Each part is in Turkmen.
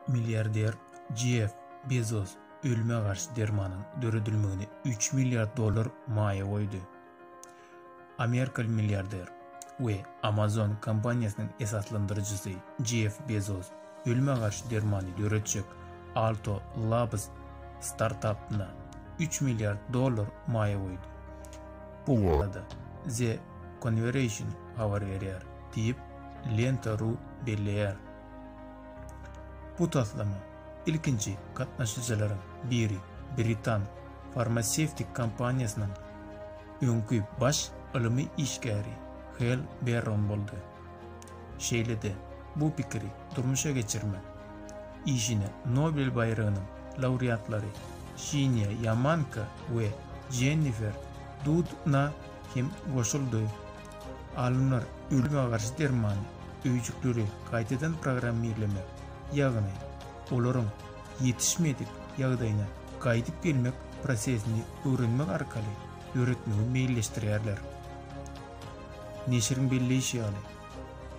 Milliarder Jeff Bezos ölüme garşy dermanyň döredilmegine üç milliard dollar maýa goýdy. Amerikaly milliarder we Amazon kompaniýasynyň esaslandyryjysy Jeff Bezos ölüme garşy dermany döretjek Alto Labs startapyna üç milliard dollar maýa goýdy. Bu barada The Conversation habar berýär. diýip, Lenta.ru belleýär. Bu taslama ilkinji gatnaşyjylaryň biri britan farmasewtik kompaniýasynyň öňki baş ylmy işgäri Hel Berron boldy. Şeýle-de, bu pikiri durmuşa geçirmek işine Nobel baýragynyň laureatlary Şinýa Ýamanka we Jennifer Dudna hem goşuldy. Alymlar ölüme garşy derman öýjükleri gaýtadan programmirlemek, ýagny olaryň ýetişmedik ýagdaýyna gaýdyp gelmek prosesini öwrenmek arkaly döretmegi meýilleşdirýärler. Neşiriň belleýşi ýaly,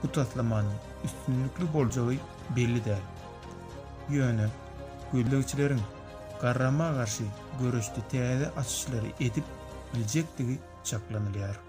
bu taslamanyň üstünlikli boljagy belli däl. Ýöne gözlegçileriň garrama garşy göreşde täze açyşlary edip biljekdigi çaklanylýar.